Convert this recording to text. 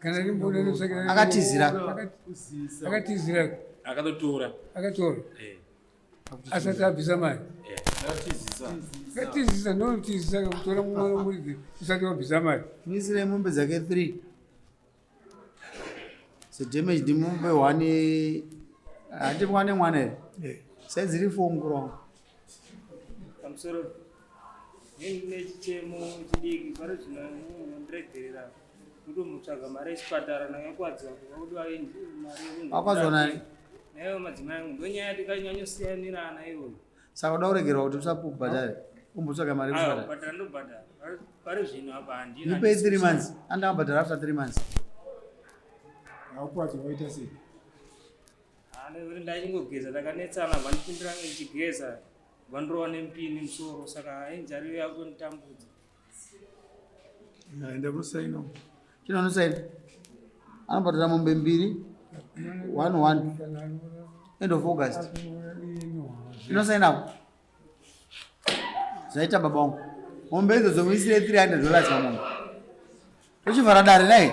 kana rimboda nosakira akatizira akatizira akatotora akatora eh. asati abvisa mari eh. akatizisa ndonotizisa kakutora mumwana muridzi usati wabvisa mari misira mombe dzake three so damage ndimombe one handimwane mwana here eh. saidziri four mukurongo pamusoro nechichemo chidiki pari zvino ndiregerera kutomutsvaga mari yechipatara nayo yakwadziwa kuvakudiwa mari akwadziwa nani nayo madzimai angu ndonyaya tikanyanyosiyanirana iyoyo saka uda kuregerwa kuti usapubhadhare umbotsvaga mari yekubhadhara ndobhadhara pari zvino apa handina ndipei three months andamabhadhara after three months haukwadziwa waita sei hanekuti ndaichingogeza ndakanetsana vanipindira ndichigeza vandirova nemupini musoro saka injari yakunditambudza enda kusaina chino anosaina anobhadhara mombe mbiri one one end of august inosainawo zvaita baba wangu mombe idzo dzomuisire 300 dollars pamombe tochivhara dare nai